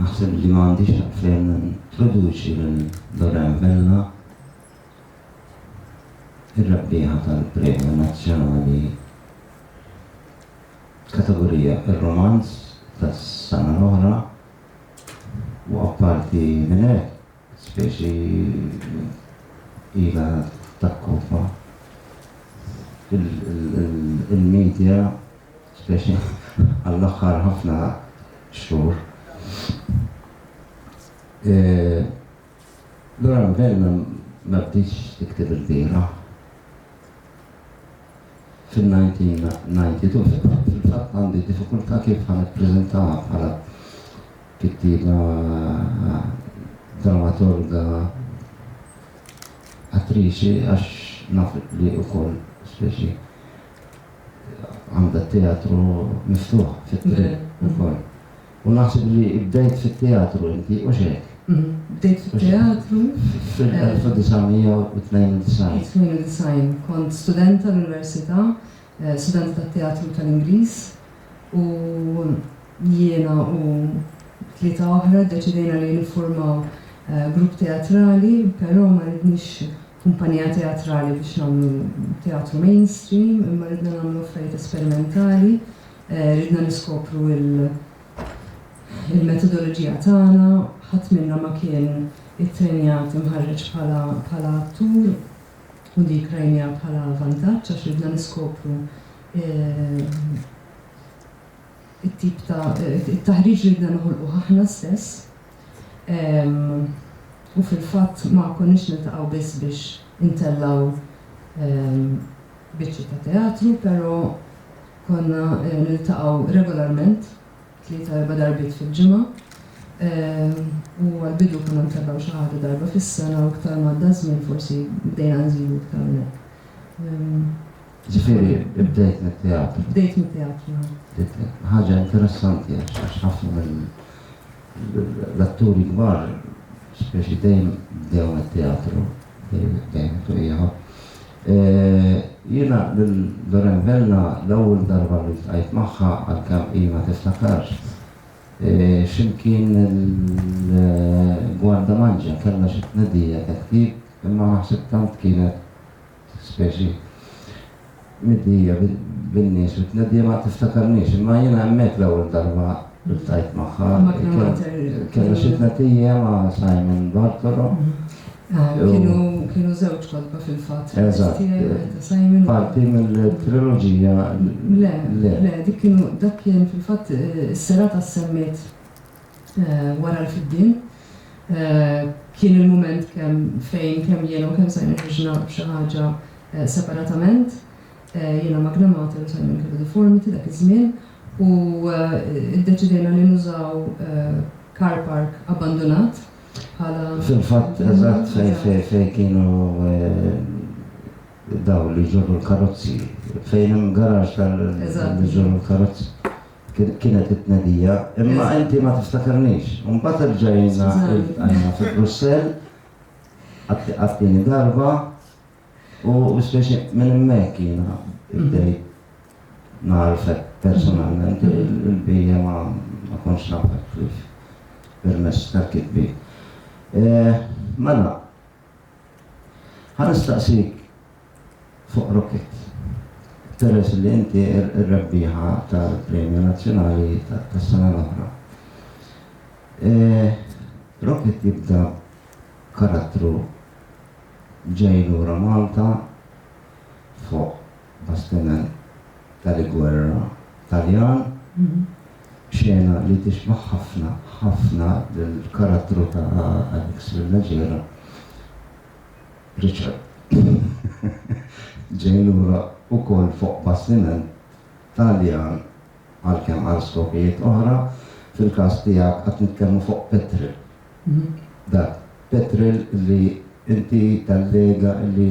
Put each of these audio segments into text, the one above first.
Naħseb li ma għandix għalfejn nintroduċi lil Lorraine Vella, ir-rebbieħa tal-Premju Nazzjonali f'kategorija Ir-Rumanz tas-sena l-oħra u apparti minn hekk, Speċi ilha takkoppa il-media speċi għall-aħħar ħafna xhur. Laura Mvella ma bdietx tikteb ilbieraħ. fin-1992 fil-fatt fil-fatt għandi diffikultà kif ħa nippreżentaha bħala kittieba dramaturga attriċi għax naf li wkoll speċi għandha t-teatru miftuħ fit-triq ukoll. U naħseb li bdejt fit-teatru inti, hux hekk? Bdejt fit-teatru. Fil-1992. 92. Kont studenta l-università, studenta tat-teatru tal-Ingliż, u jiena u tlieta oħra ddeċidejna li niffurmaw grupp teatrali, però ma ridniex kumpanija teatrali biex nagħmlu teatru mainstream, imma ridna nagħmlu affarijiet esperimentali. Ridna niskopru l-metodoloġija tagħna, ħadd minna ma kien ittrenjat imħarreġ bħala attur u dik rajniha bħala vantaġġ għax ridna niskopru t-tip ta' taħriġ li ridna noħolquh aħna stess u fil-fatt ma konniex niltaqgħu biss biex intellgħu biċċi ta' teatru pero Konna niltaqgħu regolarment, tlieta erba' darbiet fil-ġimgħa, u għall-bidu konna ntlaqgħu xi ħaġa darba fis-sena u iktar m'għadda ż-żmien forsi bdejna nżidu iktar minn hekk. Jiġifieri bdejt mit-teatru? Bdejt mit-teatru. Ħaġa interessanti għax ħafna mill. L-atturi kbar speċi dejjem bdew mit-teatru, dejjem fuq ieħor. Jiena lil Lorraine Vella l-ewwel darba li ltqajt magħha għalkemm hi ma tiftakarx, x'imkien il-Guardamangia kellha xi tnedija ta' ktieb imma naħseb tant kienet Speċi midnija bin-nies u t-tneddija ma tiftakarnix, imma jiena hemmhekk l-ewwel darba ltqajt magħha. Kellha xi tneddija ma' Simon Bartolo. Kienu żewġ kotba fil-fatt. Eżatt. Parti mill-triloġija. Le, le, dik kienu dak kien fil-fatt is-serata ssemmiet wara l-fiddien. Kien il-mument kemm fejn kemm jiena u kemm Simon ħriġna b'xi ħaġa separatament. Jiena Magna Mater u Simon kellu Deformity dak iż-żmien u ddeċidejna li nużaw car park abbandunat bħala. Fil-fatt, eżatt, fejn kienu dawn li jġorru l-karozzi. Fejn hemm garaxx tal-li jġorru l-karozzi. kienet it-tnedija, imma inti ma tiftakarnix. Mbagħad erġajna iltqajna fi Brussell għat-tieni darba u speċi minn hemmhekk jiena bdejt nagħrfek personalment il-bija ma kontx nafek kif permess tal-kitbi. Mela, Ħa nistaqsik fuq Rocket. Peress li inti r-rebbieħa tal-Premju Nazzjonali tas-sena l-oħra. Rocket jibda b'karattru ġej lura Malta fuq bastiment tal-gwerra Taljan. Xena li tixbah ħafna ħafna lill-karattru ta' Alex Villaggera, Richard, ġej lura wkoll fuq bastiment Taljan għalkemm għal skopijiet oħra, fil-każ tiegħek qed nitkellmu fuq petril. Dak petril li inti tallega li.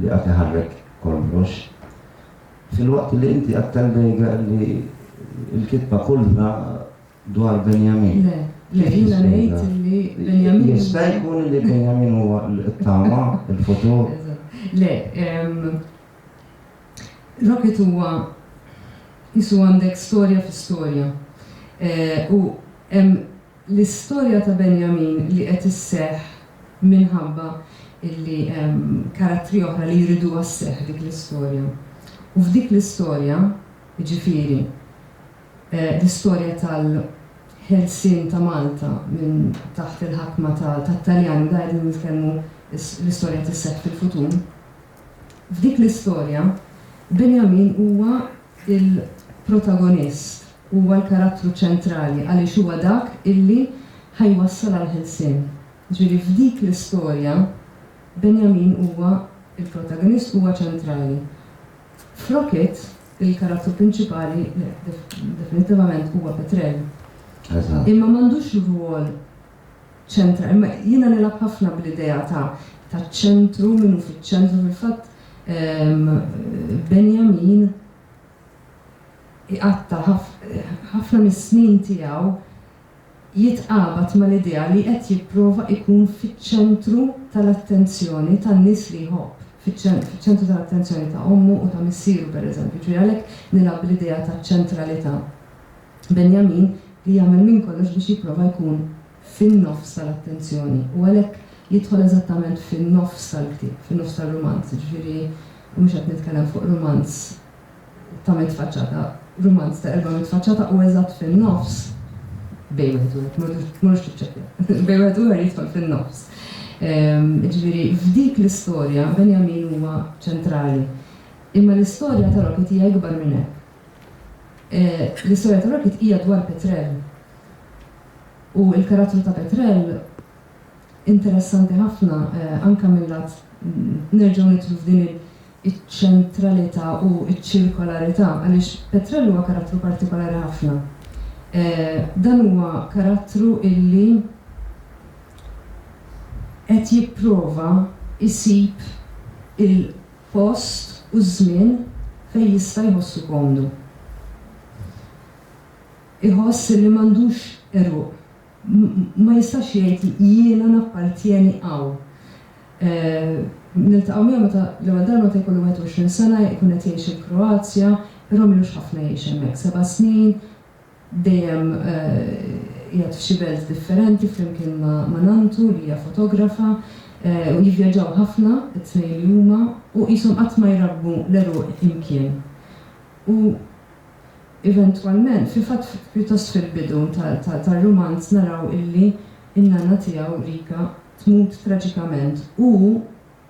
li qagħad iħarrek kollox, filwaqt li inti qagħad tallega li l-kitba kullha dwar Benjamin. Le, le, jiena ngħid li Benjamin. Jista' jkun li Benjamin huwa t-tama, il-futur. Le, Rocket huwa jisu għandek storja fi storja. Eh, u hemm L-istorja ta' Benjamin li qed isseħħ minħabba illi hemm karattri oħra li jriduha sseħħ dik l-istorja. U f'dik l-istorja, jiġifieri l-istorja tal-ħelsien ta' Malta minn taħt il-ħakma tat-Taljani, da qegħdin nitkellmu l-istorja tisseħħ fil-futur, f'dik l-istorja Benjamin huwa Il-protagonist huwa l-karattru ċentrali għaliex huwa dak illi ħa jwassal għall-ħelsien. Ġifieri f'dik l-istorja Benjamin huwa l-protagonist huwa ċentrali. F'Rock It il-karattru prinċipali definittivament huwa Petrell. Imma m'għandux rwol ċentra. Imma jiena nilgħab ħafna bl-idea ta' taċ-ċentru, min hu fiċ-ċentru. Fil-fatt Benjamin iqatta' ħafna mis-snin tiegħu jitqabad mal-idea li qed jipprova jkun fiċ-ċentru tal-attenzjoni tan-nies li jħobb, fiċ-ċentru tal-attenzjoni ta' ommu u ta' missieru, pereżempju. Ġifieri għalhekk nilgħab bl-idea taċ-ċentralità. Benjamin li jagħmel minn kollox biex jipprova jkun fin-nofs tal-attenzjoni u għalhekk jidħol eżattament fin-nofs tal-ktieb, fin-nofs tar-rumanz, jiġifieri mhux qed nitkellem fuq rumanz ta' mitt faċċata, rumanz ta' erba' mitt faċċata u eżatt fin-nofs, bejn wieħed u ieħor, m'għadux tiċċekkja, bejn wieħed u ieħor jidħol fin-nofs. Jiġifieri f'dik l-istorja Benjamin huwa ċentrali. Imma l-istorja ta' Rocket hija ikbar minn hekk. L-istorja ta' Rocket hija dwar Petrel u l-karattru ta' Petrel interessanti ħafna anke mil-lat nerġgħu nidħlu f'din iċ-ċentralità u ċ-ċirkolarità għaliex Petrel huwa karattru partikolari ħafna. Dan huwa karattru illi qed jipprova jsib il post u żmien fejn jista' jħossu komdu. Iħoss li m'għandux għeruq. Ma jistax jgħid jiena nappartjeni hawn. Niltaqgħu miegħu meta l-ewwel darba meta jkollu 21 sena, ikun qed jgħix il-Kroazja, però m'ilux ħafna jgħix hemmhekk, seba' snin, Dejjem qiegħed f'xi belt differenti flimkien ma' nanntu li hija fotografa u jivvjaġġaw ħafna t-tnejn li huma u qishom qatt ma jrabbu l-għeruq imkien. U eventwalment, fil-fatt pjuttost fil-bidu tar-rumanz naraw illi n-nanna tiegħu, Rika, tmut traġikament u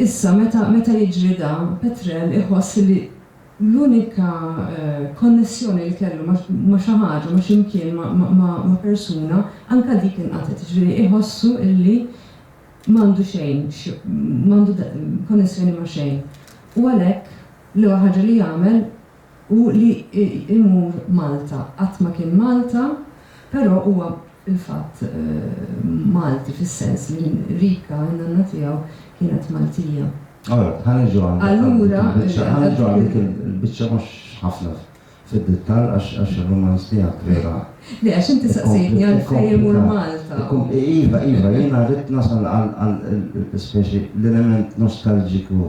Issa, meta, meta jiġri dan, Petrel iħoss li l-unika konnessjoni li kellu ma', ma' xi ħaġa, ma' xi mkien, ma', ma', ma', ma' persuna, anke dik inqatgħet, jiġifieri iħossu illi m'għandu xejn x', m'għandu konnessjoni ma' xejn. U għalhekk, l-ewwel ħaġa li jagħmel, Hu li jmur Malta qatt ma kien Malta, però huwa fil-fatt Malti fis-sens li Rika, in-nanna tiegħu, kienet Maltija. Alright, ħa niġu għal dik il-biċċa, ħa niġu għal dik il-biċċa mhux ħafna fid-dittall għax ir-rumanz tiegħek vera. Le, għax inti saqsejtni għalfejn imur Malta. Iva, iva, jiena rrid nasal għal speċi l-element nostalġiku.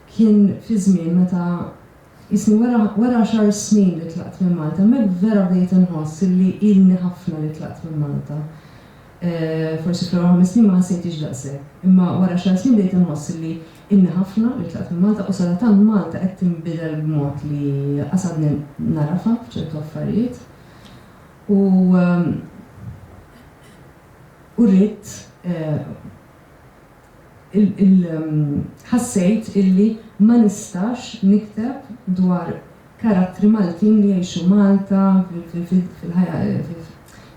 Kien fi żmien meta qisni wara wara għaxar snin li tlaqt minn Malta, hemmhekk vera bdejt inħoss illi ilni ħafna li tlaqt minn Malta. Forsi fl-ewwel ħames snin ma ħassejtiex daqshekk, imma wara għaxar snin bdejt inħoss illi ilni ħafna li tlaqt minn Malta u sadattant Malta qed tinbidel b'mod li lanqas għadni nagħrafha f'ċertu affarijiet. U u ridt ħassejt illi ma nistax nikteb dwar karattri Maltin li jgħixu Malta fil-ħajja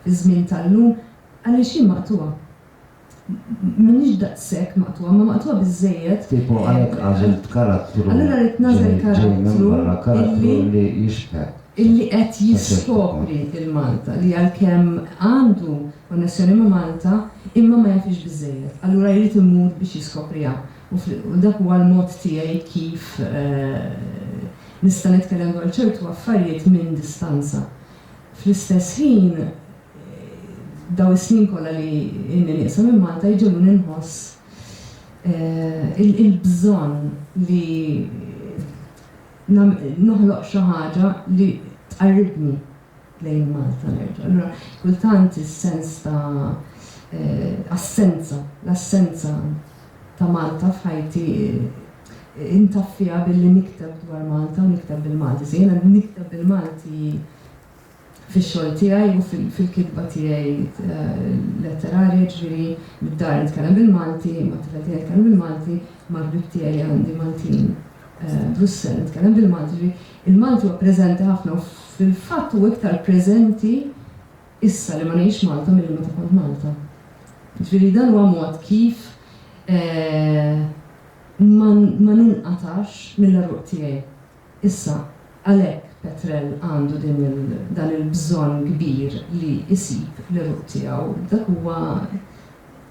fiż-żmien tal-lum għaliex jien maqtugħa. M'iniex daqshekk maqtugħa, imma maqtugħa biżżejjed. Tipo għalhekk għażilt karattru ġej minn barra, karattru li jixbħek. Illi qed jiskopri 'l Malta li għalkemm għandu konnessjoni ma' Malta imma ma jafhiex biżżejjed, allura jrid imur biex jiskopriha u dak huwa l-mod tiegħi kif nista' nitkellem dwar ċertu affarijiet minn distanza. Fl-istess ħin dawn is-snin kollha li ilni nieqsa minn Malta jġegħluni nħoss il-bżonn li noħloq xi ħaġa li tqarribni. lejn Malta nerġa'. Allura kultant is-sens ta' assenza, l-assenza ta' Malta f'ħajti intaffiha billi nikteb dwar Malta u nikteb bil-Malti. So jiena nikteb bil-Malti fix-xogħol tiegħi u fil-kitba tiegħi letterarja, jiġifieri mid-dar nitkellem bil-Malti, mat-tifel tiegħi nitkellem bil-Malti, mal-ħbieb tiegħi li għandi Maltin Brussell nitkellem bil-Malti, jiġifieri Il-Malti huwa preżenti ħafna u fil-fatt hu iktar preżenti issa li ma ngħidx Malta milli meta kont Malta. Jiġifieri dan huwa mod kif ma ma ninqatgħax mill-għeruq tiegħi. Issa, għalhekk Petrel għandu din il dan il-bżonn kbir li jsib l-għeruq tiegħu, dak huwa.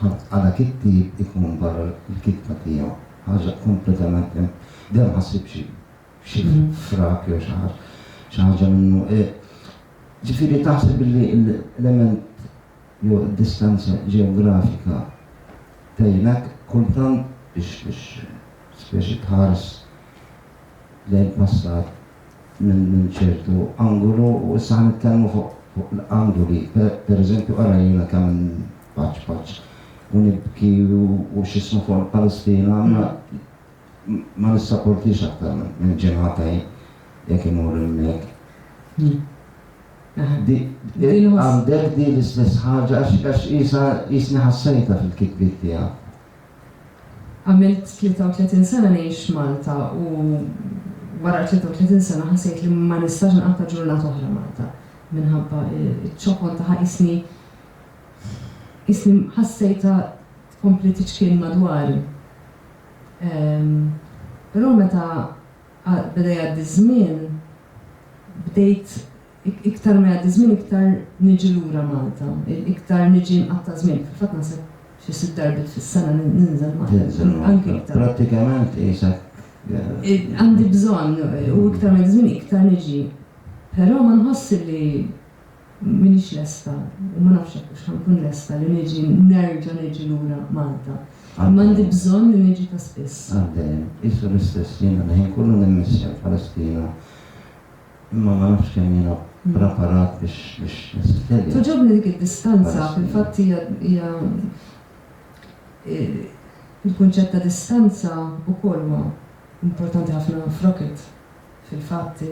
Ħadd għala kittieb ikun barra l-kitba tiegħu. Ħaġa kompletament imp. Deh ma ssibx f'xi frak jew xi ħaġa, xi ħaġa minnu. Ġifieri taħseb illi l-element jew id-distanza ġeografika tgħinek kultant biex biex specie tħares lejn passat minn ċertu angolu u issa ħa nitkellmu fuq l-angoli, pereżempju ara jiena ta' minn paċ paċ u nibki u x'ismu fuq il-Palestina imma ma nissaportix aktar minn ġimgħata jien jekk imur hemmhekk. Għandek din l-istess ħaġa għax qisha qisni ħassejtha fil-kitbiet tiegħek. Għamilt 33 sena ngħix f'Malta u wara l-33 sena ħassejt li ma nistax inqatta' ġurnata oħra Malta minħabba ċ-ċokon tagħha qisni qisni ħassejtha tkompli tiċkien madwari. Però meta beda jgħaddi ż-żmien bdejt Iktar ma jgħaddi żmien iktar niġi lura Malta, iktar niġi nqatta' żmien, fil-fatt naħseb xi sitt darbiet fis-sena ninżel Malta, anki iktar. Prattikament qisek. Għandi bżonn u iktar ma jgħaddi żmien iktar niġi. Però ma nħossx li m'iniex lesta u ma nafx jekk hux ħa nkun lesta li niġi nerġa' niġi lura Malta. Imma għandi bżonn li niġi ta' spiss. Għal dejjem. Qisu l-istess, jiena l-ħin kollu nimmissja l-Palestina Imma ma nafx kemm jiena praparat biex nsiffilja. Togħġobni dik id-distanza, fil-fatt hija hija il-kunċett ta' distanza wkoll huwa importanti ħafna f'Rocket. Fil-fatt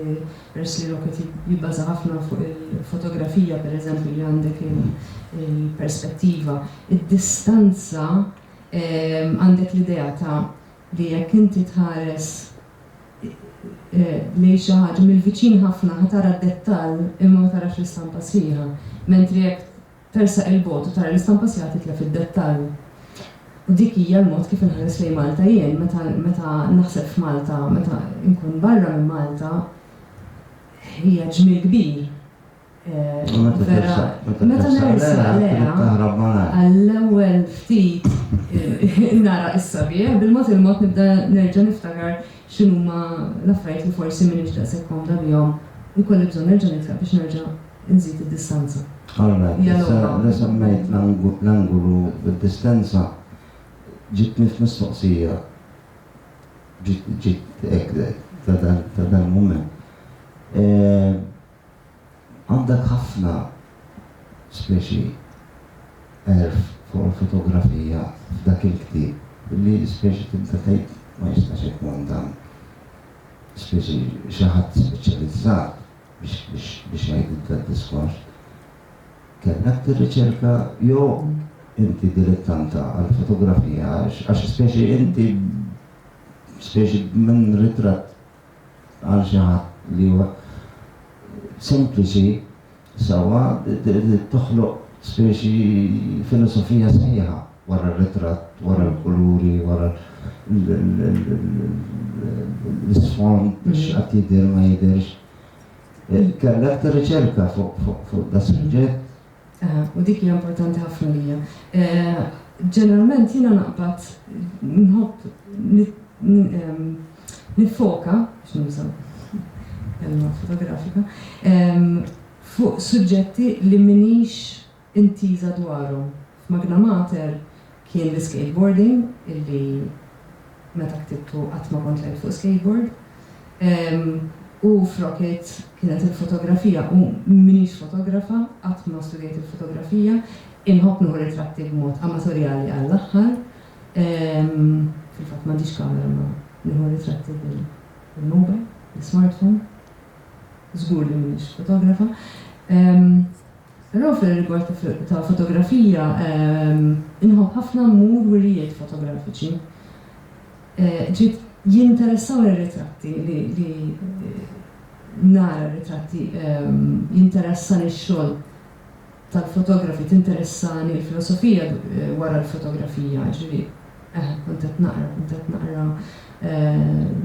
peress li Rocket jibbaża ħafna fuq il-fotografija pereżempju li għandek il-perspettiva, id-distanza għandek l-idea ta' li jekk inti tħares lejn xi ħaġa mill-viċin ħafna ħa tara d-dettall imma ma tarax l-istampa sħiħa, mentri jekk tersaq 'il bogħod u tara l-istampa sħiħa titlef id-dettall. U dik hija l-mod kif inħares lejn Malta jien meta meta naħseb f'Malta, meta nkun barra minn Malta hija ġmiel kbir. Meta nersa leha għall-ewwel ftit nara is-sabiħ, bil-mod il-mod nibda nerġa' niftakar x'inhuma l-affarijiet li forsi m'iniex daqshekk komda bihom u jkolli bżonn nerġa' nitlaq biex nerġa' nżid id-distanza. Alright, issa li semmejt l-angulu u d-distanza, ġibtni f'mistoqsija, ġiet hekk ta' dal-mument. Għandek ħafna speċi għerf fuq il-fotografija f'dak il-ktieb li l-ispeċi tibda tgħid ma jistax ikun dan speċi xi ħadd speċjalizzat biex jgħidilha d-diskors. Kellek tirriċerka jew inti dilettanta għall-fotografija għax speċi inti speċi minn ritratt. għal xi ħadd li huwa sempliċi sewwa toħloq speċi filosofija sħiħa wara r-ritratt, wara l-kuluri, wara l-isfond biex qatt jidher ma jidherx. Kellek tirriċerka fuq da' suġġett u dik hija importanti ħafna lija. Ġeneralment jiena naqbad nħobb nifoka, x'nużaw, kelma fotografika, fuq suġġetti li minix intiża dwarhom. F'Magna Mater Kien l-iskateboarding illi meta ktibtu qatt ma kont lgħibt fuq skateboard. U f'Rocket kienet il-fotografija u m'iniex fotografa, qatt ma studjajt il-fotografija. Inħobb nieħu ritratti b'mod amatorjali għall-aħħar. Fil-fatt m'għandix kamera imma nieħu ritratti bil-mobile, bl-ismartphone. Żgur li m'iniex fotografa. Però fir-rigward ta' fotografija, inħobb ħafna mmur wirjiet fotografiċi. Ġiet jinteressawni r-ritratti li li nara r-ritratti, jinteressani x-xogħol tal-fotografi, tinteressani l-filosofija wara l-fotografija, jiġifieri Eh, kont qed naqra, kont qed naqra eh,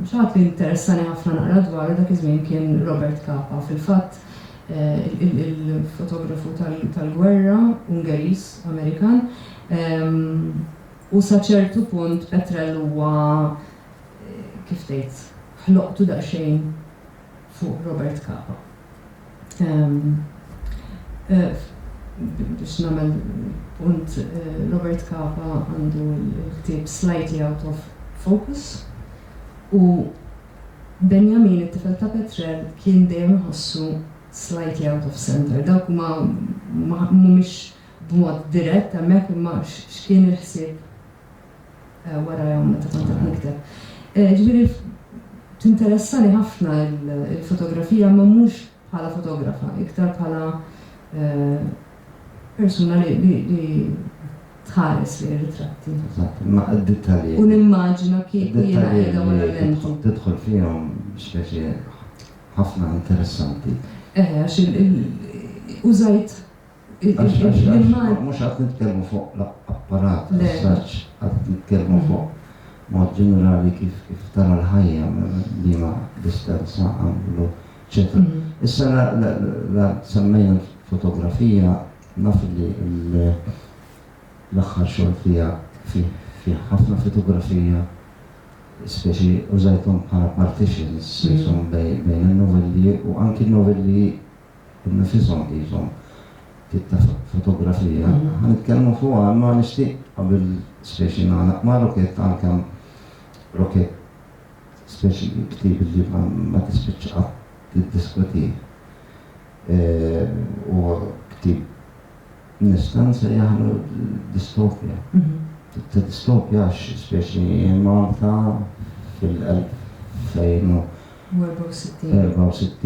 xaħat li interessani ħafna naqra dwaru dak iż-żmien kien Robert Capa. Fil-fatt eh, il-fotografu tal-gwerra Ungeris, Amerikan, ehm, u saċertu punt Petrel huwa kif tgħid, ħloqtu daqsxejn fuq Robert Capa. biex nagħmel punt Robert Capa għandu l-ktieb Slightly Out of Focus u Benjamin it-tifel ta' Petrel kien dejjem iħossu slightly out of centre. Dawk huma mhumiex b'mod dirett hemmhekk imma x'kien il-ħsieb warajhom meta kont qed nikteb. Ġifieri tinteressani ħafna l-fotografija imma mhux bħala fotografa, iktar bħala persuna li tħares li ritratti. Ma d-dettalji. U nimmaġina kif jiena qiegħda wara l-lenti. Tidħol fihom x'peċi ħafna interessanti. Eħe, għax użajt Mhux qed nitkellmu fuq l-apparat tas-saġġ, qed nitkellmu fuq mod ġenerali kif tara l-ħajja liema distanza għamlu, eċċetera. Issa la semmejna l-fotografija naf li l-aħħar xogħol tiegħek fih ħafna fotografija speċi użajthom bħala partitions bejn in-novelli u anki n-novelli Nfishom qishom tip ta' fotografija. Ħa nitkellmu fuqha imma nixtieq qabel specie nagħlaq ma' Rokett għalkemm Rokett specie ktieb li ma tispiċċa qatt tiddiskutih. Huwa ktieb nista' nsejjaħlu distopja. Tip ta' distopja għax specie hi Malta fil-1464.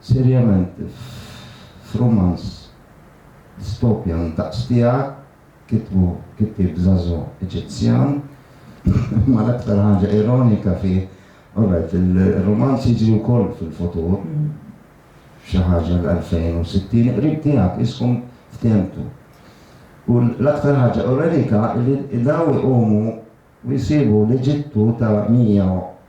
Serjament, f'rumanz dystopjan daqs tiegħek, kitbu kittieb żagħżugħ Eġizzjan, imma l-aktar ħaġa ironika fih, alright, ir-rumanz jiġri wkoll fil-futur, f'xi ħaġa l-2060, il-qrib tiegħek iskom fthemtu. U l-aktar ħaġa ironika li dawn iqumu u jsibu l-Eġittu ta' 100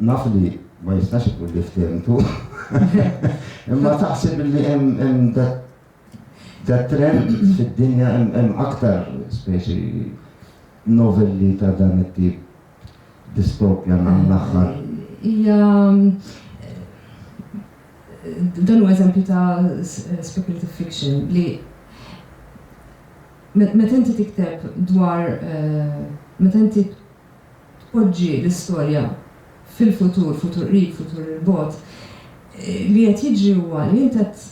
Naf li ma jistax ikun li ftemtu. Imma taħseb li hemm da trend fid-dinja hemm aktar speċi novelli ta' dan it-tip distopja nan l-aħħar. Hija dan huwa eżempju ta' speculative fiction li meta inti tikteb dwar meta inti tpoġġi l-istorja fil-futur, futur qrib, futur 'il bogħod, li qed jiġri huwa li int qed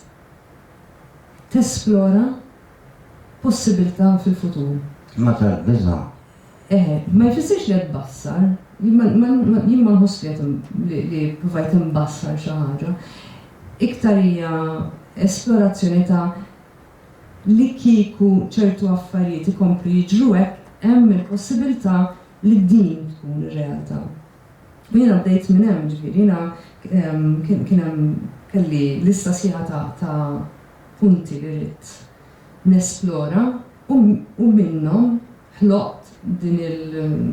tesplora possibiltà fil-futur. Ma tarax biża'. Eħe, ma jfissirx li qed tbassar. Jien ma, ma, ma, jien ma nħoss li qed, li, li ppruvajt imbassar xi ħaġa. Iktar hija esplorazzjoni ta' li kieku ċertu affarijiet ikomplu jiġru hekk, hemm il-possibiltà li din tkun ir-realtà. U jiena bdejt minn hemm, jiġifieri jiena kien kien hemm kelli lista sħiħa ta' ta' punti li ridt nesplora u u minnhom ħloqt din il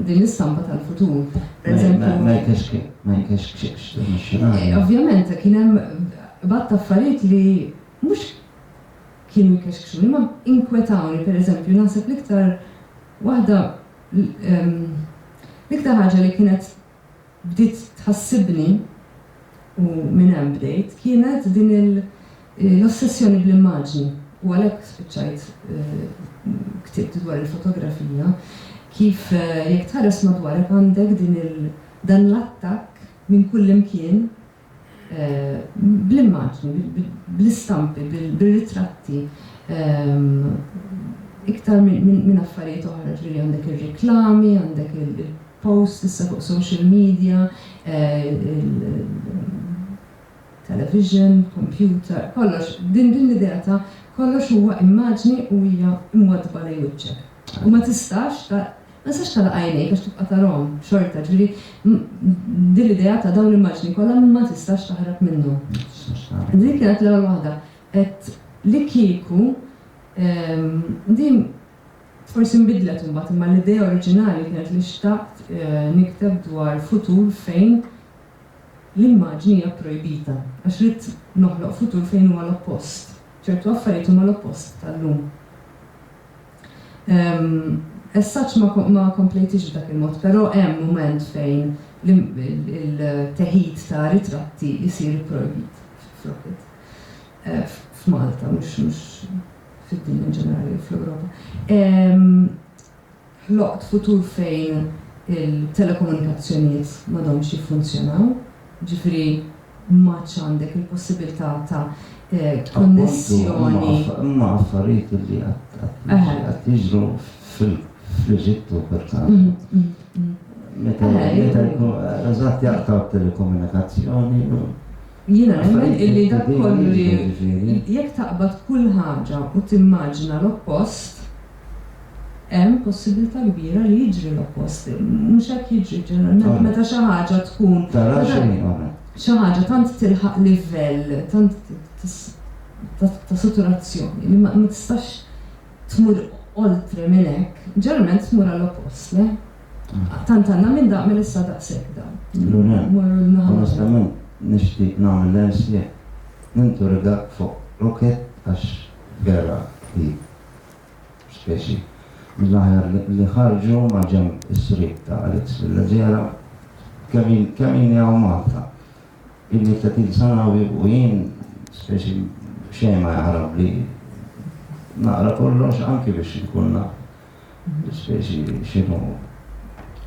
din l-istampa tal-futur. Ma Pereżempju ma jkex kien, ma jkex x'dan ix-xenarju. Ovvjament kien hemm bgħad ta' affarijiet li mhux kienu jkexkxuni. Imma inkwetawni, pereżempju, naħseb l-iktar waħda, l-iktar ħaġa li kienet bdiet tħassibni, u minn hemm bdejt, kienet din l-ossessjoni bl-immaġni, u għalhekk spiċċajt ktibt dwar il-fotografija, kif jekk tħares madwarek għandek din il, dan l-attakk minn kullimkien bl-immaġni, bl-istampi, bir-ritratti, iktar minn affarijiet oħra, ġifieri għandek ir-reklami, għandek il-posts issa fuq social media, il-television, computer, kollox, din l-idea ta' kollox huwa immaġni u hija mwaddba lejn wiċċek. U ma tistax, Ma tistax tagħlaq għajnejk għax tibqa' tarahom xorta. Ġifieri, din l-idea ta' dawn l-immaġni kollha ma tistax taħrab minnhom. Din kienet l-ewwel waħda. Għedt li kieku, din forsi nbidlet imbagħad imma l-idea oriġinali kienet li xtaqt nikteb dwar futur fejn l-immaġni hija pprojbita għax ridt noħloq futur fejn huwa l-oppost. Ċertu affarijiet huma l-oppost tal-lum. As such ma komplejtiex b'dak il-mod, però hemm mument fejn il-teħid ta' ritratti jsir ipprojbit flok it. F'Malta, mhux fid-dinja in ġenerali jew fl-Ewropa. Ħloqt futur fejn il-telekomunikazzjonijiet m'għadhomx jiffunzjonaw, jiġifieri, M'għadx għandek il-possibilità ta' konnessjoni. Appuntu, huma affarijiet li qed jiġru fl-Eġittu perkażu. Meta jkunu, eżatt, jaqtgħu t-telekomunikazzjoni u. Jiena nemmen illi dak kollu li jekk taqbad kull ħaġa u timmaġina l-oppost. hemm possibbiltà kbira li jiġri l-oppost. Mhux hekk jiġri ġeneralment meta xi ħaġa tkun, xi ħaġa tant tilħaq livell tant ta' saturazzjoni li ma tistax tmur oltre minn hekk, ġeneralment tmur għall-oppost, le? Tant għandna minn daq mela issa daqshekk dan. Lura, onestament nixtieq nagħmel l-ersieq, ninturigak fuq rocket għax vera hi. speċi mill-aħjar li ħarġu maġenb is-sriep ta' Alex Filleġera. Kemm jien hawn Malta, ilni 30 sena u jien speċi xejn ma jaħrab li naqra kollox anki biex inkun naf speċi x'inhu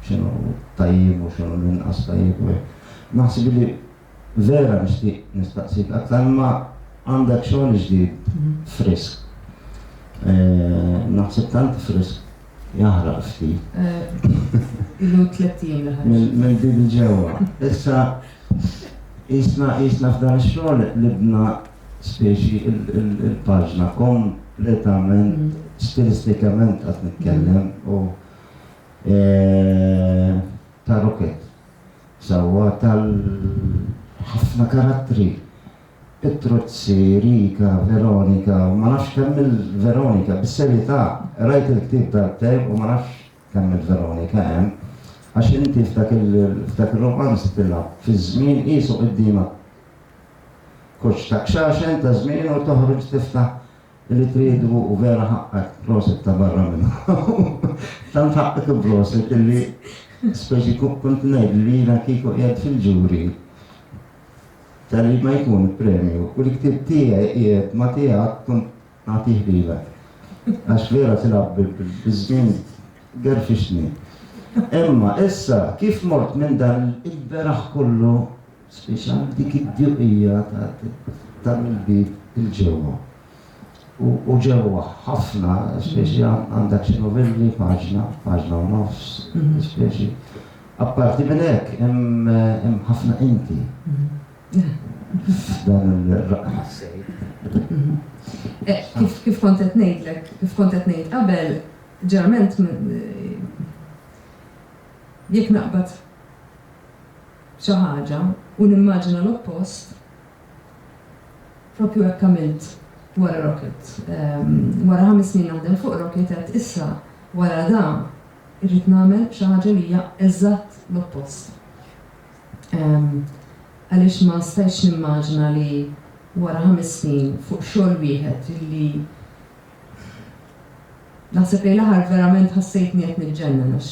x'inhu tajjeb u x'inhu l-inqas tajjeb u hekk. Naħseb li Vera nixtieq nistaqsik aktar imma għandek xogħol ġdid frisk. Naħseb tant frisk jaħraq ftit. Ilu tliet ijiem li ħareġ. Mill-bib il-ġewwa. Issa jisna jisna f'dan ix-xogħol libna speċi il-paġna kompletament stilistikament qed nitkellem u ta' rokett. sewwa tal ħafna karattri, Pitruzzi, Rica, Veronika, u ma nafx kemm il Veronika, bis-serjetà, qrajt il-ktieb darbtejn u ma nafx kemm il Veronika hemm, għax inti f'dak ir-rumanz tilgħab fiż-żmien qiesu qudiemek koċċ ta' kxaxen ta' żmien u toħroġ tiftaħ Li tridu hu vera ħaqqek, prosit ta' barra minn hawn. Tant ħaqqek u prosit illi speċi kont ngħid li jiena kieku qiegħed fil-ġuri tal-li ma jkun premju u li ktieb tiegħi qiegħed ma tiegħek kont nagħtih lilek. Għax vera tilgħab biż-żmien gerfixni. Imma issa kif mort minn dan il-beraħ kollu Spiċċa dik id-djuqija ta' l-bib 'il ġewwa. U ġewwa ħafna, speċi għandha xi novelli, paġna, paġna u nofs, speċi. Apparti minn hekk hemm ħafna inti f'dan ir-raqqa tas-sejf. Kif kont qed ngħidlek, kif kont qed ngħid qabel, ġeneralment jekk naqbad, xi ħaġa u nimmaġina l-oppost, proprju hekk għamilt wara Rocket. Wara ħames snin naħdem fuq Rocket għedt issa wara dan irrid nagħmel xi ħaġa li hija eżatt l-oppost. Għaliex ma stajtx nimmaġina li wara ħames snin fuq xogħol wieħed li Naħseb lejn l-aħħar verament ħassejtni qed niġġennen għax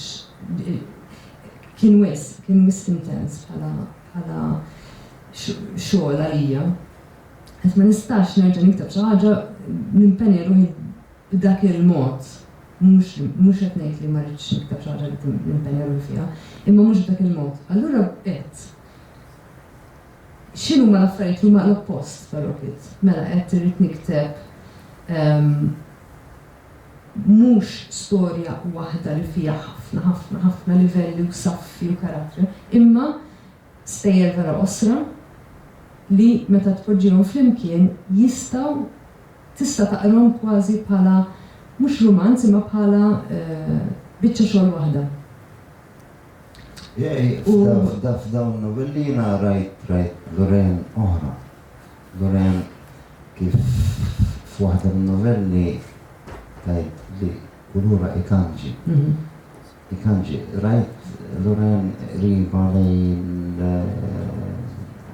kien wisq, kien wisq intens bħala xogħol għalija. Għad ma nistax nerġa' nikteb xi ħaġa nimpenja ruħi b'dak il-mod. Mhux qed ngħid li ma rridx nikteb xi ħaġa li nimpenja ruħi fiha, imma mhux b'dak il-mod. Allura bdejt. X'inhuma l-affarijiet li huma l-oppost ta' rocket? Mela għedt irrid nikteb mhux storja waħda li fiha ħafna ħafna ħafna livelli u saffi u karattri, imma stejjer vera qosra li meta tpoġġihom flimkien jistgħu tista' taqrahom kważi bħala mhux rumanz imma bħala biċċa xogħol waħda. F'dawn novelli jiena rajt Lorraine oħra. Lorraine kif f'waħda min-novelli tajt li kulura ikanġi. Ikanġi. Rajt Lorraine qriba lejn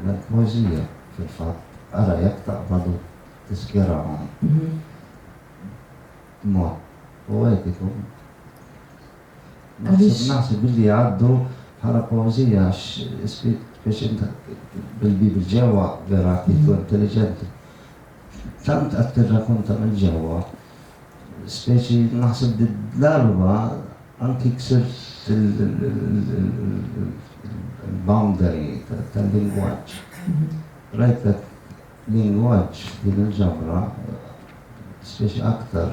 l-poeżija fil-fatt. Ara jekk taqbad u tiskjerahom b'mod poetiku. Naħseb billi jgħaddu bħala poeżija għax spiex int bil-bib ġewwa vera għaddejt u intelliġenti. Tant qed tirrakunta minn ġewwa, speċi naħseb li d-darba anki ksirt il-boundary tal-lingwaġġ. Rajtek lingwaġġ f'din il-ġabra speċi aktar.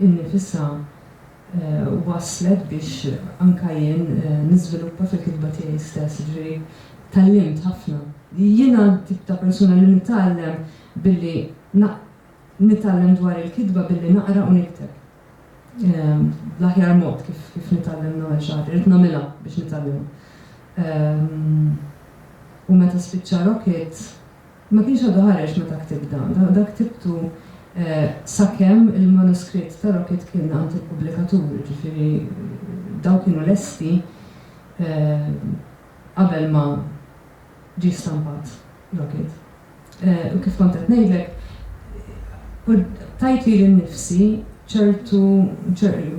innifisha wasslet biex anke jien niżviluppa fil-kitba tiegħi stess. Jiġifieri tgħallimt ħafna. Jiena t-tip ta' persuna li nitgħallem billi nitgħallem dwar il-kitba billi naqra u nikteb. L-aħjar mod kif nitgħallem nagħmel xi ħaġa, irrid nagħmilha biex nitgħallimha. U meta spiċċa Rocket, Ma kienx għadu ħareġ meta ktibt dan. Dak ktibtu sakemm il-manuskritt ta' Rocket kien għand il-pubblikatur, jiġifieri dawn kienu lesti qabel ma ġie stampat Rocket. U kif kont qed ngħidlek, tajt lili nnifsi ċertu,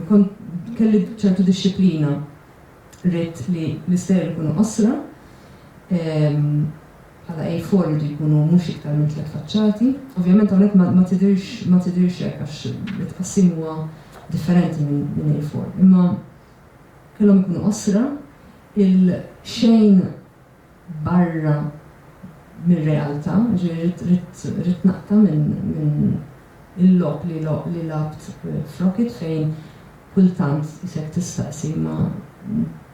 kont, kelli ċertu dixxiplina. Ridt li l-istejjer ikunu qosra. bħala A4 jridu jkunu mhux iktar minn tliet faċċati. Ovvjament hawnhekk ma tidhirx ma tidhirx hekk għax it-tqassim huwa differenti minn A4. Imma kellhom ikunu qosra, il-xejn barra mir-realtà, jiġifieri ridt naqta' minn il-logħob li lgħabt f'Rocket fejn kultant isek tistaqsi ma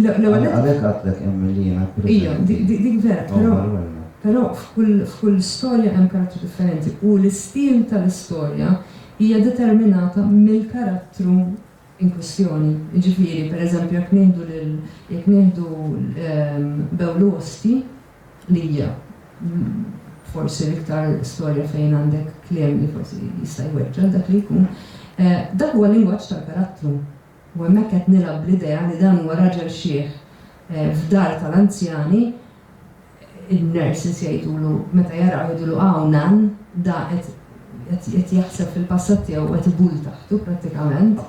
L-ewwel nett. Għalhekk għedtlek hemm milli jiena preżenti. Ija, dik vera, però. Però f'kull storja hemm karattru differenti u l-istil tal-istorja hija determinata mill-karattru in kwistjoni. Jiġifieri, per eżempju, jekk nieħdu lil, jekk nieħdu Bewlu Osti li hija forsi l-iktar storja fejn għandek kliem li forsi jista' jweġġa' dak li jkun, dak huwa l-lingwaġġ tal-karattru. U hemmhekk qed nilgħab bl-idea li dan huwa raġel xiħ f'dar tal-anzjani, in-nurses jgħidulu, meta jarawh jgħidulu Hawn Nan, da qed qed jaħseb fil-passat tiegħu u qed ibull taħtu prattikament.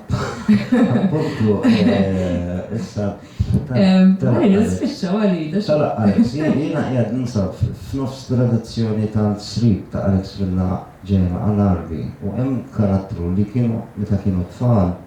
Appuntu, issa. Ħalli nispiċċa Walid. Talaq Alex, jiena qiegħed ninsab f'nofs tradizzjoni tal-srib ta' Alex Villa ġejja ma' Al-Gharbi u hemm karattru li kienu meta kienu tfal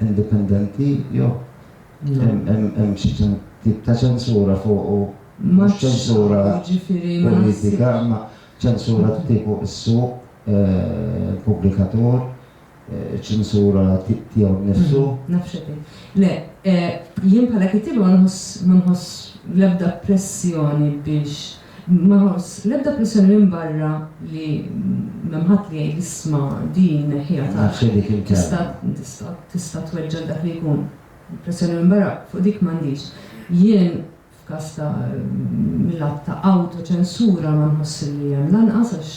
indipendenti jew hemm xi tip ta' ċensura fuqu mhux ċensura politika imma ċensura tiegħu is-suq il-pubblikatur ċensura tiegħu nnifsu. Naf x'qed Le, jien bħala kittieba ma nħoss l-ebda pressjoni biex Ma ħoss l-ebda pressjoni minn barra li m'hemm ħadd li jgħidli isma' din neħħiha taf tista' tista' tista' tweġġa' lil dak li jkun. Pressjoni minn barra fuq dik m'għandix. Jien f'każ ta' mil-lat ta' awtoċensura ma nħoss li hemm lanqas għax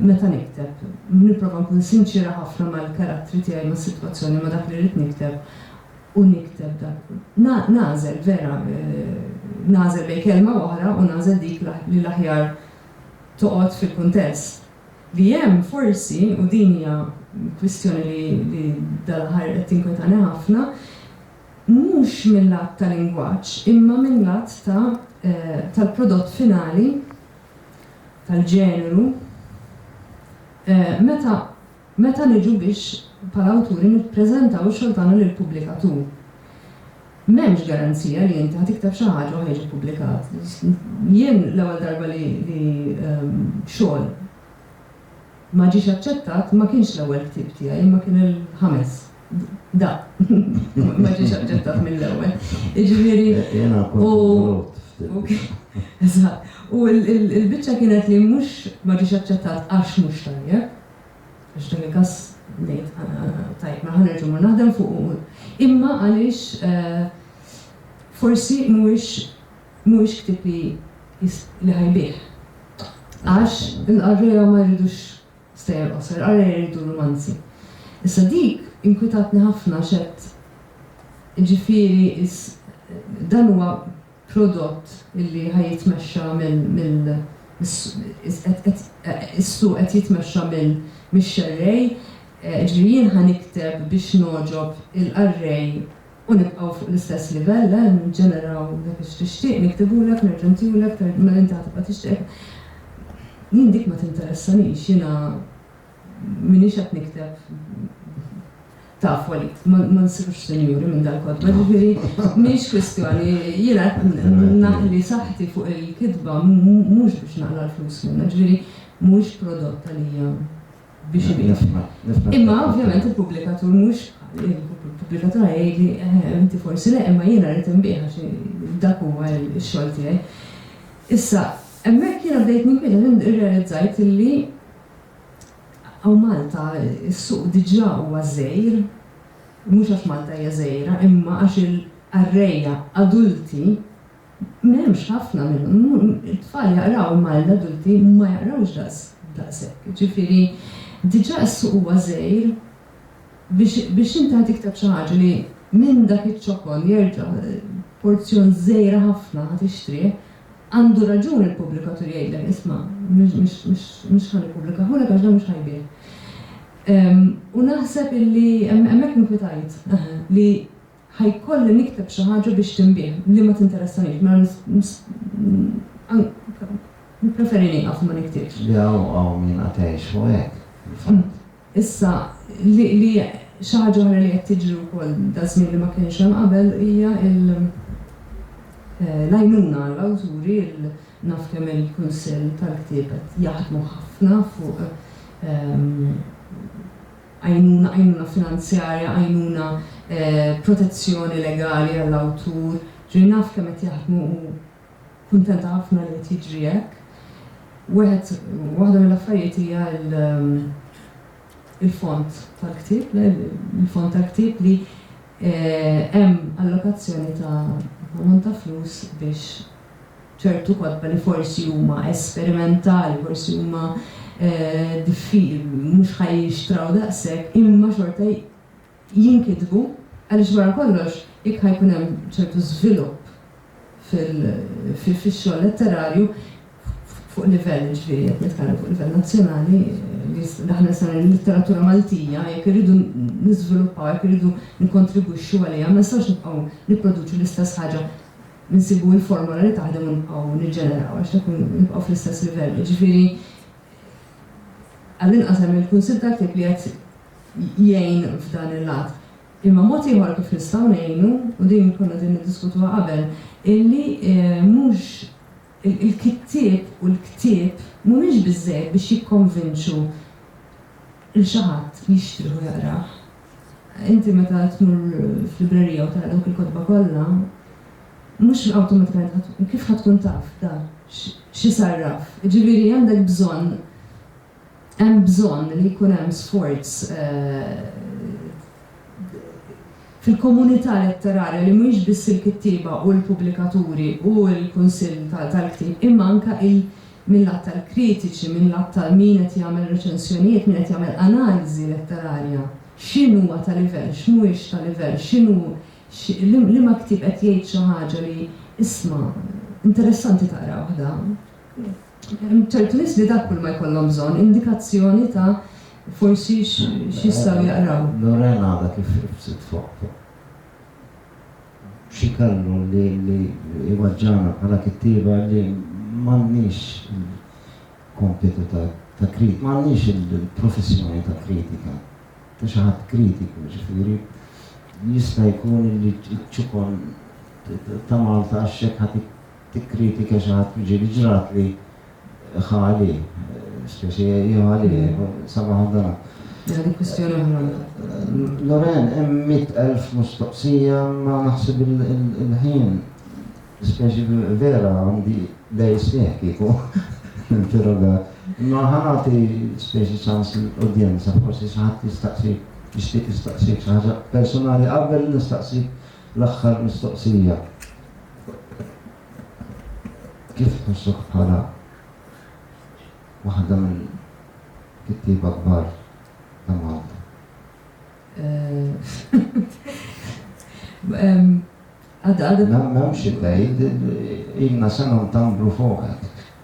meta nikteb nipprova nkun sinċiera ħafna mal-karattri tiegħi, mas-sitwazzjoni, ma' dak li rrid nikteb. u nikteb dak. Nagħżel, vera, nagħżel bejn kelma u oħra u nagħżel dik li l-aħjar toqgħod fil-kuntest. Li hemm, forsi, u din hija kwistjoni li dal-aħħar qed tinkwetani ħafna, mhux mil-lat ta' lingwaġġ imma mil-lat ta' tal-prodott finali, tal-ġeneru, meta Meta niġu biex bħala awturi nippreżentaw ix-xogħol tagħna lill-pubblikatur, m'hemmx garanzija li inti ħa tikteb xi ħaġa u ħa jiġi ppubblikat. Jien l-ewwel darba li xogħol ma ġiex aċċettat ma kienx l-ewwel ktieb tiegħi imma kien il-ħames. Dak ma ġiex aċċettat mill-ewwel. Jiġifieri u Eżatt. U l-biċċa kienet li mhux ma ġiex aċċettat għax mhux tajjeb. F'dan il-każ ngħid, Tajjeb, mela ħa nerġa' mmur naħdem fuqu. Imma għaliex forsi mhuwiex mhuwiex ktieb li li ħa jbigħ. Għax il-qarrejja ma jridux stejjer qosra, il-qarrejja jridu rumanzi. Issa dik inkwitatni ħafna x'għedt, jiġifieri dan huwa prodott illi ħa jitmexxa minn is-suq qed jitmexxa minn mix-xerrej, jiġifieri jien ħa nikteb biex nogħġob il-qarrej u nibqgħu fuq l-istess livell, le, nġeneraw dak li tixtieq, niktibulek, nerġa' ntihulek, mela inti ħa tibqa' tixtieq. Jien dik ma tinteressanix, jiena. M'iniex qed nikteb taf Walid, ma nsirux sinjuri minn dal-kotba, jiġifieri mhix kwistjoni, jiena qed naħli saħħti fuq il-kitba mhux biex naqla' l-flus minnha, jiġifieri mhuwiex prodott għalija biex ibiegħ. Imma ovvjament il-pubblikatur mhux il-pubblikatur ħa jgħidli eħe inti forsi le imma jiena rrid inbiegħ għax dak huwa x-xogħol tiegħi. Issa, hemmhekk jiena bdejt ninkwieta, irrealizzajt illi Hawn Malta s-suq diġà huwa żgħir, mhux għax Malta hija żgħira imma għax il-qarrejja adulti m'hemmx ħafna minnhom, it-tfal jaqraw imma l-adulti ma jaqrawx daqshekk, jiġifieri diġà s-suq huwa żgħir biex biex inti ħa tikteb xi ħaġa li minn dak iċ-ċokon jerġa' porzjon żgħira ħafna ħa tixtrih, Għandu raġun il-pubblikatur jgħidlek, isma', mhux ħa nippublikahulek għax dan mhux ħa jbigħ. U naħseb illi hemmhekk inkwitajt, eħe, li ħa jkolli nikteb xi ħaġa biex tinbiegħ li ma tinteressaniex, mela nippreferi nieqaf u ma niktibx. Le hawn hawn min qatgħet jgħixu hekk, fil-fatt. Issa, li, li, xi ħaġa oħra li qed tiġri wkoll daż-żmien li ma kienx hemm qabel hija l, l-għajnuna għall-awturi, il, naf kemm il-Kunsill tal-Ktieb qed jaħdmu ħafna fuq, għajnuna, għajnuna finanzjarja, għajnuna, protezzjoni legali għall-awtur, ġifieri naf kemm qed jaħdmu u Kuntenta ħafna li qed jiġri hekk. Wieħed, waħda mill-affarijiet hija l, il-fond tal-ktieb, le, il-fond tal-ktieb li hemm allokazzjoni ta' ammont ta' flus biex ċertu kotba li forsi huma esperimentali, forsi huma diffi, mhux ħa jinxtraw daqshekk, imma xorta jinkitbu għaliex wara kollox jekk ħa jkun hemm ċertu żvilupp fix-xogħol letterarju fuq livell, jiġifieri qed nitkellem fuq livell nazzjonali, li aħna nistgħu ngħidu l-litteratura Maltija jekk irridu niżviluppawha, jekk irridu nikkontribwixxu għaliha ma nistgħux nibqgħu nipproduċu l-istess ħaġa, insibu l-formola li taħdem u nibqgħu niġġeneraw għax dak nibqgħu fl-istess livell. Jiġifieri għall-inqas hemm il-Kunsill tal-Ktieb li qed jgħin f'dan il-lat. Imma mod ieħor kif nistgħu ngħinu, u din konna qegħdin niddiskutuha qabel, illi mhux il-kittieb u l-ktieb mhumiex biżżejjed biex jikkonvinċu lil xi ħadd li jixtrih u jaqrah. Inti meta tmur f'librerija u tara dawk il-kotba kollha, mhux awtomatikament ħa kif ħa tkun taf dak x'isarraf. Jiġifieri għandek bżonn Hemm bżonn li jkun hemm sforz fil-komunità letterarja li mhijiex biss il-kittieba u l-pubblikaturi u l-kunsill tal-ktieb imma anke mil-lat tal-kritiċi, mil-lat ta' min qed jagħmel reċensjonijiet, min qed jagħmel analiżi letterarja. X'in huwa ta' livell, x'mhuwiex ta' livell, x'inhu, liema ktieb qed jgħid xi ħaġa li, isma', interessanti taqrawh dan. Hemm ċertu nies li dak kulma jkollhom bżonn, indikazzjoni ta' forsi x'jistgħu jaqraw. Nurha l-għada kif irbset fuq fuq xi kellu li jweġġagħna bħala kittieba li m'għandniex il-kompitu ta' krit, m'għandniex il-professjoni ta' kritika, ta' xi ħadd kritiku, jiġifieri jista' jkun li ċ-ċukon ta' Malta għax hekk ħa tikkritika xi ħadd miġieli ġratli ħa għalih, speċi jew għalih, sabaħ għal dan. Mela dik kwistjoni oħra. Loren, hemm mitt elf mistoqsija ma naħseb il-ħin. Speċi vera għandi lej sieħ kieku interrogat. Ma ħanati speċi ċans l-udjenza, forsi xi ħadd jistaqsi jixtieq jistaqsik xi ħaġa personali qabel nistaqsik l-aħħar mistoqsija. Kif tħossok bħala waħda mill-kittieba kbar ta' Malta? Għadha. M'hemmx id-dgħid, ilna sena ntambru fuqek.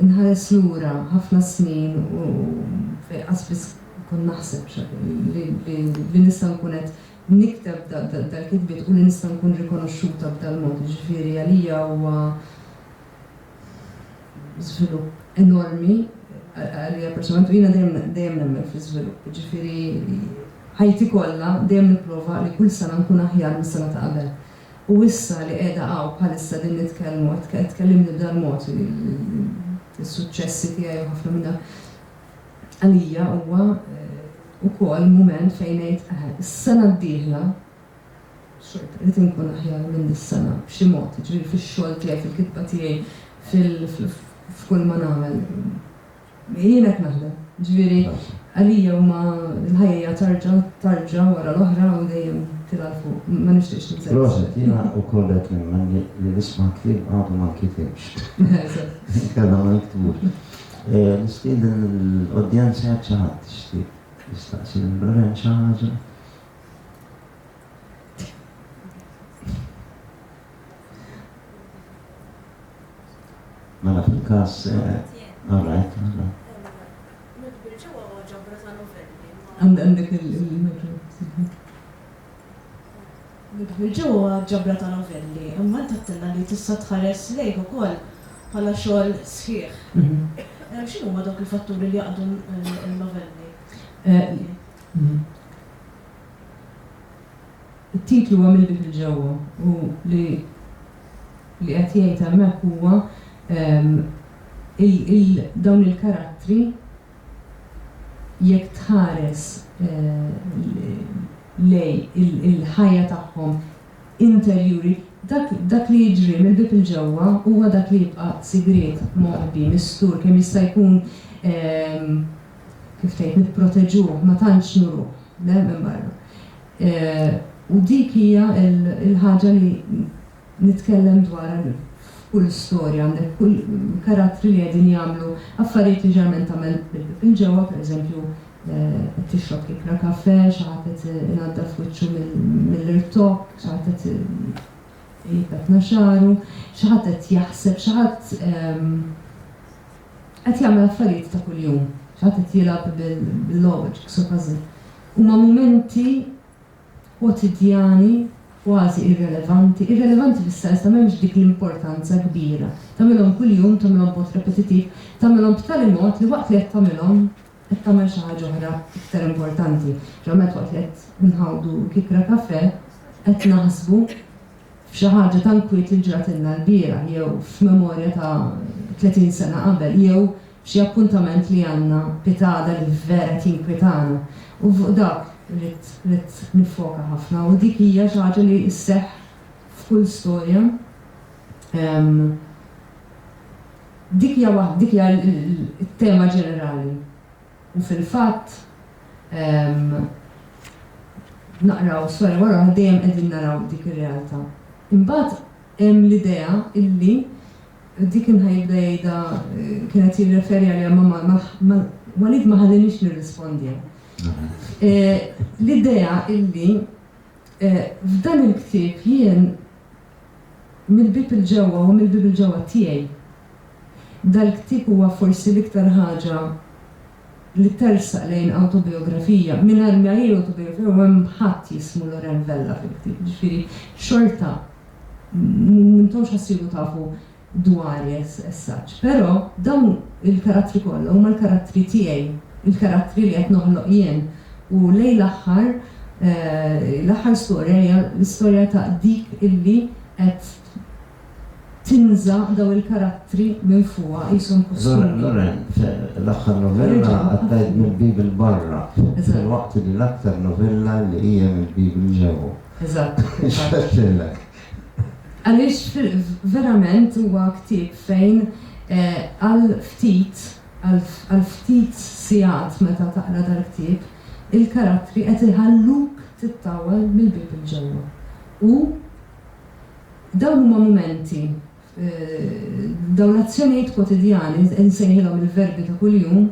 Inħares lura ħafna snin u qas biss kont naħseb li nista' nkun qed nikteb dal-kitbiet u li nista' nkun rikonoxxuta b'dal-mod. Jiġifieri għalija huwa żvilupp enormi għalija personalment u jiena dejjem nemmen fl-iżvilupp. Jiġifieri ħajti kollha dejjem nipprova li kull sena nkun aħjar mis-sena ta' qabel. U issa li qiegħda hawn bħalissa qegħdin nitkellmu, qed tkellimni b'dal-mod, is-suċċessi tiegħi u ħafna minn dak, għalija huwa wkoll mument fejn ngħid, eħe, is-sena d-dieħla xorta rrid inkun aħjar minn dis-sena b'xi mod, jiġifieri fix-xogħol tiegħi, fil-kitba tiegħi, f'kull ma nagħmel. Jien hekk naħdem. Ġifieri, għalija huma l-ħajja hija tarġa, tarġa wara l-oħra u dejjem tilgħa 'l fuq. Ma nixtieqx ninsellef. Proset, jiena wkoll qed nemmen li l-isma' kliem għadu ma nkitibx. Eżatt. Inkella ma niktbux. Nistieden lill-udjenza jekk xi ħadd jixtieq jistaqsi lil Lorenz xi ħaġa. Mela fil-każ, all right, all right. Nudbirġa huwa ġabra ta' novelli, imma int għedtilna li tista' tħares lejh ukoll bħala xogħol sħiħ. X'inhuma dawk il-fatturi li jaqdu n-novelli? It-titlu huwa Mill-Bib li Ġewwa u li li qed jgħid hemmhekk huwa il dawn il-karattri jekk tħares lej il-ħajja tagħhom interjuri dak dak li jiġri mill-bib 'il ġewwa huwa dak li jibqa' sigriet, moħbi, mistur kemm jista' jkun kif tgħid nipproteġuh ma tantx nuruh le minn barra. U dik hija l-ħaġa li nitkellem dwarha f'kull storja, għandek kull karattri li qegħdin jagħmlu affarijiet li ġeneralment tagħmel minn ġewwa, pereżempju qed tixrob kikkra kafè, xi ħadd qed inaddaf wiċċu mill-irtokk, xi ħadd qed ipettna xagħru, xi ħadd qed jaħseb, xi ħadd qed jagħmel affarijiet ta' kuljum, xi ħadd qed jilgħab bil-logħob, jigħmel jigsaw puzzle. Huma mumenti kwotidjani kważi irrelevanti, irrelevanti fis-sens ta' m'hemmx dik l-importanza kbira. Tagħmilhom kuljum, tagħmilhom b'mod repetittiv, tagħmilhom b'tali mod li waqt li qed tagħmilhom qed tagħmel xi ħaġa oħra iktar importanti. Ġeneralment waqt li qed inħawdu kikra kafè qed naħsbu f'xi ħaġa ta' nkwiet li ġratilna lbieraħ jew f'memorja ta' tletin sena qabel jew Xi appuntament li għandna pitgħada li vera tinkwitana u fuq dak ridt ridt niffoka ħafna u dik hija xi ħaġa li sseħħ f'kull storja ehm dik hija waħda dik hija t-tema ġenerali u fil-fatt ehm naqraw storja wara oħra dejjem qegħdin naraw dik ir-realtà. Imbagħad hemm l-idea illi Dik imħa jibda jgħidha, kien qed jirreferi għaliha, Mamma, ma, Walid ma ħalliniex nirrispondiha. L-idea illi f'dan il-ktieb jien mill-bieb il-ġewwa u mill-bieb il-ġewwa tiegħi. Dal-ktieb huwa forsi l-iktar ħaġa li tersaq lejn awtobiografija mingħajr ma hi awtobiografija u hemm ħadd jismu Loren Vella fil-ktieb, jiġifieri xorta m'intomx ħassiru tafu dwari as such. Però dawn il-karattri kollha huma l-karattri tiegħi, il-karattri li qed noħloq jien u lejn l-aħħar l-aħħar storja hija l-istorja ta' dik illi qed tinża' daw il-karattri minn fuqha qishom kustumi. Loren, L-aħħar novella qattajt mill-Bible barra, filwaqt li l-aktar novella li hija mill-Bible ġew. Eżatt. X'għedtilek? Għaliex verament huwa ktieb fejn għal ftit, għal ftit sigħat meta taqra dal-ktieb, il-karattri qed iħalluk tittawwal mill-Bible ġewwa. U. Dawn huma mumenti, dawn l-azzjonijiet kwotidjani, insejħilhom il-verbi ta' kuljum,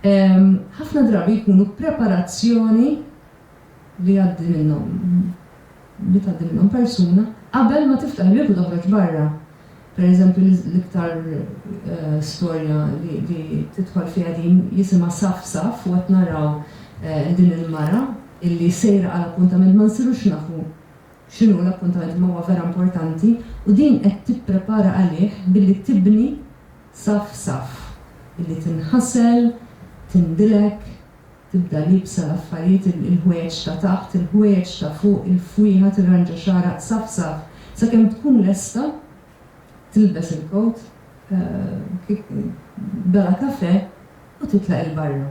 ħafna drabi jkunu preparazzjoni li jgħaddi minnhom, li tgħaddi minnhom persuna qabel ma tiftaħ il-bieb u toħroġ barra. Per eżempju, l-iktar storja li tidħol fiha din jisimha Saff Saff u qed naraw din il-mara illi sejra għal appuntament ma nsirux nafu, X'inhu l-appuntament imma huwa vera importanti u din qed tipprepara għalih billi tibni saff saff, billi tinħasel, tindilek, tibda liebsa l-affarijiet, il-ħwejjeġ ta' taħt, il-ħwejjeġ ta' fuq, il-fwieħa, tirranġa xagħarha saff saff sakemm tkun lesta tilbes il-kowt bela kafè u titlaq 'il barra.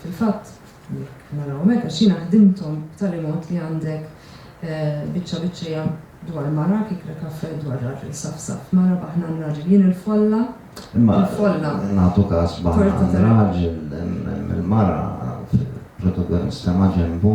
Fil-fatt, jekk narawhom hekk, għax jiena ħdimthom b'tali mod li għandek biċċa biċċejja dwar mara, kikra kafè dwar raġel safsaf, mara baħnan raġel, jien il-folla, il-folla. Imma nagħtu każ baħnan raġel, il-mara protagonista maġenbu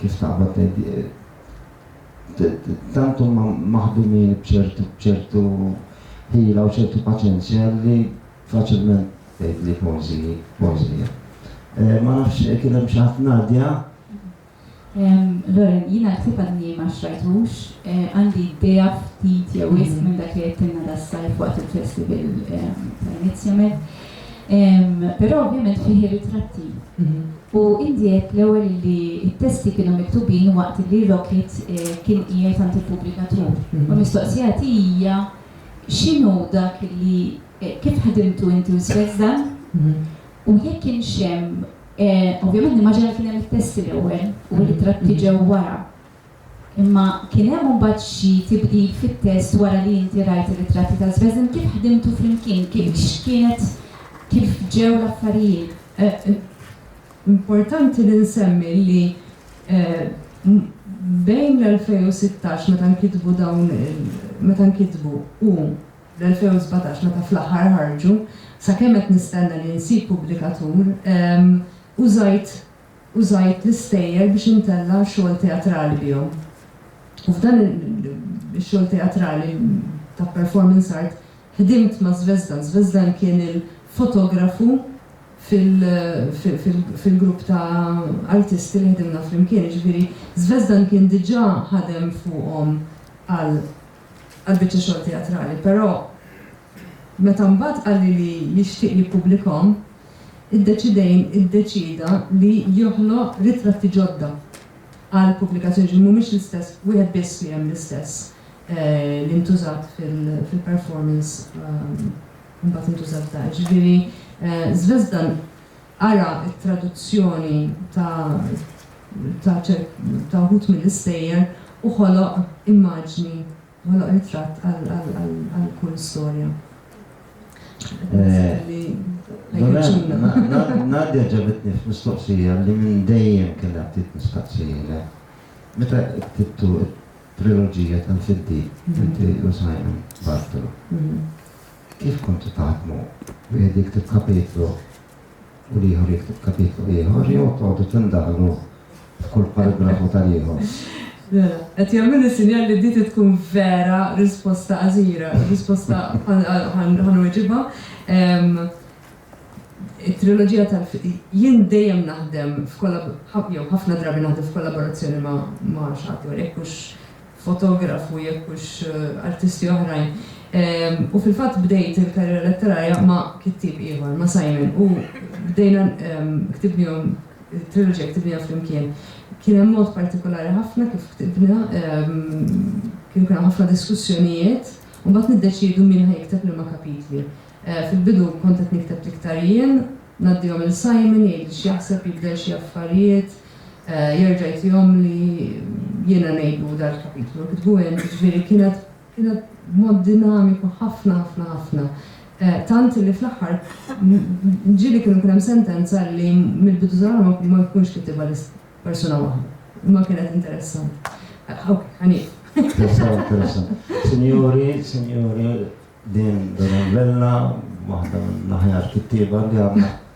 Kif taqbad tgħid, tant huma maħdumin b'ċertu ħila u ċertu paċenzja li faċilment tgħidli poeżiji, poeżija. Eh, ma nafx eh, kien hemm xi ħadd Nadja. Loren, jiena ktib għadni ma xrajtux, eh, għandi idea ftit jew ism mhm. minn dak li qed da' sajf waqt il-festival tal-Inizjament. Però ovvjament fih ir-ritratti. U indi għedt l-ewwel li t-testi kienu miktubin waqt li Rockit kien qiegħed għand il-pubblikatur. U l-mistoqsija tiegħi hija x'inhu dak li kif ħdimtu inti u Swex dan? U jekk kienx hemm, ovvjament nimmaġina li kien hemm it-testi l-ewwel u r-ritratti ġew wara. Imma kien hemm imbagħad xi tibdil fit-test wara li inti rajt ir-ritratti ta' Żbeżn? Kif ħdimtu flimkien? X'kienet kif ġew l-affarijiet? Importanti li nsemmi li bejn l-2016 meta nkitbu dawn meta nkitbu u l-2017 meta fl-aħħar ħarġu, sakemm qed nistenna li nsib pubblikatur, użajt Użajt l-istejjer biex intella' xogħol teatrali bihom. U f'dan ix-xogħol teatrali ta' performance art ħdimt ma' Zvezdan. Zvezdan kien il-fotografu fil-grupp ta' artisti li ħdimna flimkien. Jiġifieri Zvezdan kien diġà ħadem fuqhom għal biċċa xogħol teatrali, però Meta mbagħad qalli li jixtieq jippubblikahom, iddeċidejn iddeċieda li joħloq ritratti ġodda għal pubblikazzjoni, jiġifieri mhumiex l-istess, wieħed biss li hemm l-istess li ntużat fil-performance u mbagħad intuża f'dan. Jiġifieri Zvezdan qara t-traduzzjoni ta' ta' ta' wħud mill-istejjer u ħoloq immaġni Ħoloq ritratt għal kull storja. Nadja ġabitni f'mistoqsija li minn dejjem kellha ftit nistaqsijilek. Meta ktibtu t-triloġija tal-Fiddiq, inti u Simon Bartolo, kif kontu taħdmu? Wieħed jikteb kapitlu u l-ieħor jikteb kapitlu ieħor jew toqgħodu tindaħlu f'kull paragrafu tal-ieħor? Mela, qed jagħmluli sinjal li di trid tkun vera risposta qasira, risposta ħanweġibha. It-triloġija tal jien dejjem naħdem jew ħafna drabi naħdem f'kollaborazzjoni ma' xi ħadd jew hekk mhux fotografu jekk hux artisti oħrajn u fil-fatt bdejt il-karriera letterarja ma' kittieb ieħor, ma' Simon u bdejna ktibnihom it-triloġija ktibniha flimkien. Kien hemm mod partikolari ħafna kif ktibna, kienu kien hemm ħafna diskussjonijiet u mbagħad niddeċiedu min ħa jikteb liema kapitli. Fil-bidu kont qed nikteb l-iktar jien, ngħaddihom lil Simon jgħidli x'jaħseb, jibdel xi affarijiet, jerġa' jtihom li jiena ngħidu dan il-kapitlu u kitbu hemm, jiġifieri kienet kienet mod dinamiku ħafna ħafna ħafna. Tant li fl-aħħar ġieli kienu kien hemm sentenza li mill-bidu tal-għamla ma jkunx kitibha persuna waħda. Imma kienet interessanti. Ħanif. Interessant, interessant. Sinjuri, sinjuri, din Donavella, waħda mill-aħjar kittieba li għandna